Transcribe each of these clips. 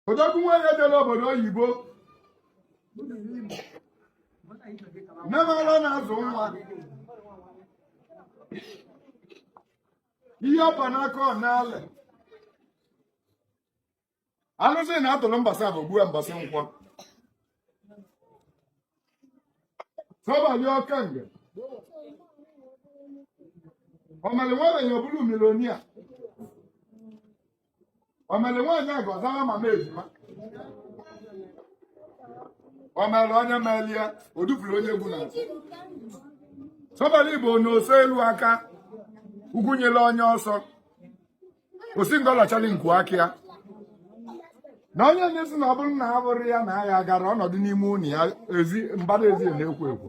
odogwu nwanyị ejela obodo oyibo nne m ara na-azụ nwa ihe ọ pa n'aka ọ na-alị alụsị na-atụrụ mbọsị afọ gbue mbọsị nkwọ asabalị ọka nge ọmalị nwaanyị ọ bụrụ millionaire o mere nwaanyị aga zaa mama ejima o mere onye melie o dupụrụ onye egwu na asabalị bụ na ose elu aka ugwu nyere onye ọ sọ o si ngọ lachali nku aka ya na onye na-esi na ọ bụrụ na a bụrụ ya na ya gara ọ nọdụ n'ime ụlọ ya ezi mbara ezi na-ekwo ekwo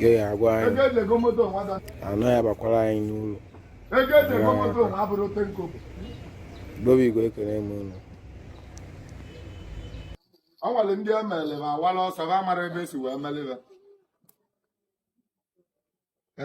ya ya agwa anyị anọ ya bakwara anyị n'ụlọ Igbo bụ Igbo ekele m unu o nwere ndị e mere ma awala ọsọ ha mara ebe e si wee mere ha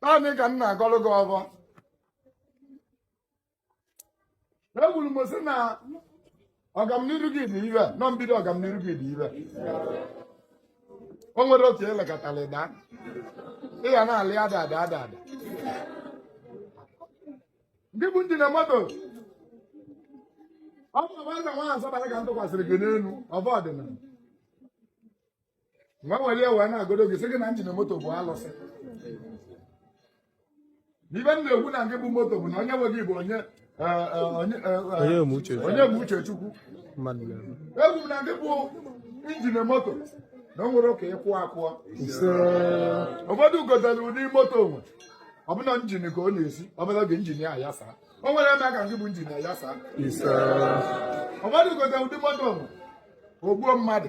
taanị ka m na-agọrọ gị ọfọ ekwuru m sị na ọgamniru gị dị ire nọ mbido ọgamniru gị dị ire o nwere otu elekọtara ịda ị ga na-alị ada ada ada ada ndị bụ ndị na moto ọ bụ ọgbaza nwa asabalị ka m tụkwasịrị gị n'elu ọfọ ọdịnala wee were wee na-agodo gị sị gị na njin moto bụ alụsị n'ife m na-ekwu na nke bụ moto bụ na onye nwe gị bụ onye me uche chukwu ekwu m na nke bụ injin moto na o nwere ka ịkwụ akwụọ Ise. ụfọdụ gotere ụdị moto o nwe ọ bụ na njin ka ọ na-esi ọbụla oge njin ya ayasa o nwere eme ka nke bụ njin ayasa Ise. ụfọdụ gotere ụdị moto o nwe o gbuo mmadụ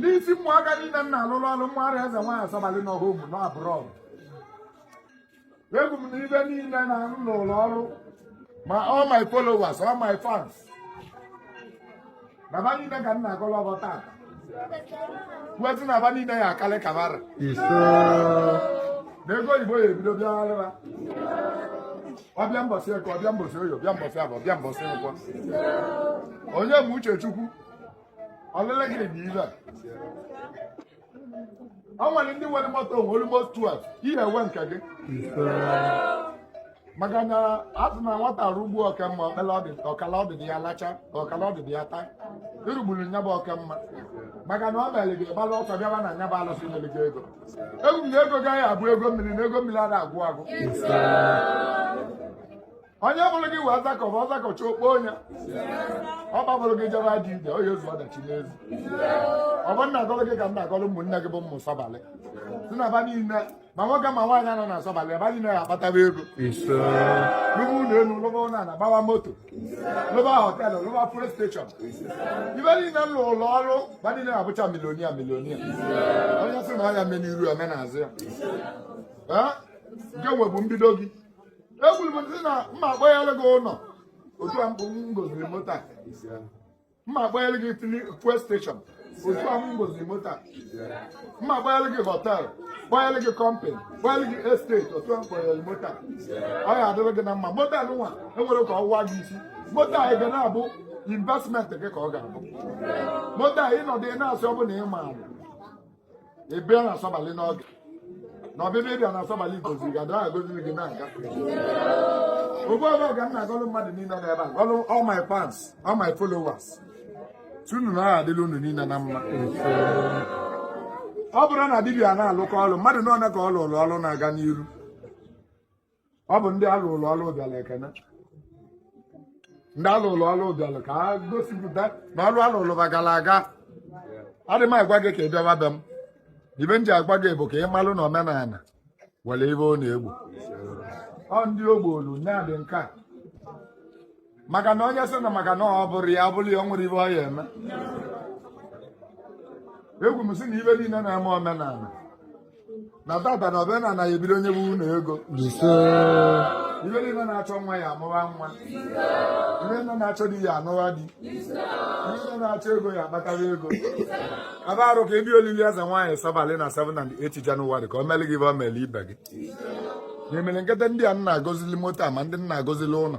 n'isi ụmụaka niile m na-alụrụ ọrụ mmụwa eze nwaanyị asabalị n'ọha ụmụ n'abroad ekwu m na ibe niile na m n'ụlọ ọrụ ma all my followers all my fans na fa niile ka m na-agọlọ ọfọ taa kwue sị na fa niile ya akalị ka fa ra na ego oyibo ya ebido bịagharịba ọ bịa mbọsị eke ọ bịa mbọsị oye ọ bịa mbọsị afọ ọ bịa mbọsị nkwọ onye bụ uchechukwu ọlele gịnị dị ibe ọ nwere ndị nwere moto onwe almost 12 ị ya enwe nke gị maka na a sị na nwata rugbuo okemma ọkala ọdịdị ya lacha ka ọkala ọdịdị ya taa irugburu nya bụ okemma maka na ọ mere gị gbalụ ọsọ bịaba na nya bụ alụsị nyere gị ego ekwu na ego gị ya abụ ego mmiri na ego mmiri ada agwụ agwụ onye bụrụ gị wee zakọ bụ ọzakọcha okpo onye ọ kpabụrụ gị jere dị ide onye ozu ọdachi n'ezi ọ bụ m na-agọlụ gị ka m na-agọlụ ụmụnne gị bụ ụmụ Sabalị si na aba niile ma nwoke ma nwaanyị nọ na Sabalị aba niile ya akpataba ego lụba ụlọ elu lụba ụlọ ala gbawa moto lụba họtelụ lụba fuel steshọn ibe niile m lụụlụ ọrụ ba niile na-abụcha milonia milonia onye sị na ọ ya me n'iru ya me n'azụ ya nke nwe bụ mbido gị ekwuru m sị na m ma akpọnyere gị ụlọ otu a mbụ m goziri moto a m ma akpọnyere gị fili fuel steshọn otu a m goziri moto a m ma akpọnyere gị họtel kpọnyere gị kọmpani kpọnyere gị esteti otu a m kpọnyere moto a ọ ya adịrị gị na mma moto a nụnwa enwere ka ọwụwa gị isi moto a ga na-abụ investment gị ka ọ ga-abụ moto a ị nọdụ ị na-asị ọ bụ na ị maara ị bịa na Sabalị n'oge na ọbịbịa ị bịa na Sabalị goziri gị dara agoziri gị na-aga ugbu ọbụla ka m na-agọlụ mmadụ niile na ebe a gọlụ all my fans all my followers sị unu na ọ ya adịlị unu niile na mma ọ bụrụ na dibịa na-alụkọ ọlụ mmadụ na-ene ka ọ lụrụ ọlụ na-aga n'iru ọ bụ ndị a lụụlụ ọlụ bịala ekene ndị a lụụlụ ọlụ bịala ka a gosipụta na ọrụ a lụụlụ ba gara aga adị m agwa gị ka ị bịawa be m ibe m ji agwa gị bụ ka ị malụ na omenala nwere ibe ọ na-egbo ọ ndị o gboolu na-adị nke a maka na onye sị na maka na ọ bụrụ ya bụrụ ya o nwere ibe ọ ya eme ekwu m sị na ibe niile na-eme omenala na tata na omenala ya ebido nyebe unu ego ibe niile na-achọ nwa ya amụwa nwa ibe niile na-achọ di ya anụwa di ibe niile na-achọ ego ya akpatara ego abịarụ ka ebi olili Ezenwaanyị Sabalị na 7 and 8 Janụwarị ka o meli gị ibe o meli ibe gị na-emere kịta ndị a m na-agozili moto a ma ndị m na-agozili ụlọ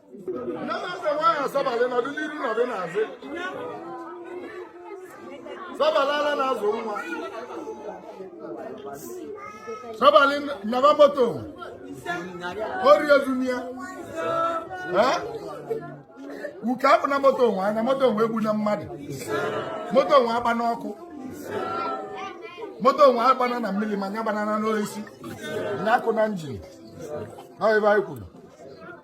Sabalị ala na-azụ nwa Sabalị nyaba moto ori ezuna ya uke akụna moto nwa anya moto nwa egbuna mmadụ moto nwa agbana ọkụ moto nwa agbana na mmiri ma nya gbanana n'oisi nya akụna njin ọ ibe anyị kwuru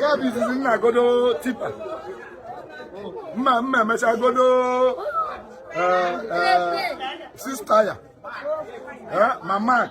ya bụ izizi nna godo tipa mma mma emecha godo eh, eh, sista ya eh, ma mak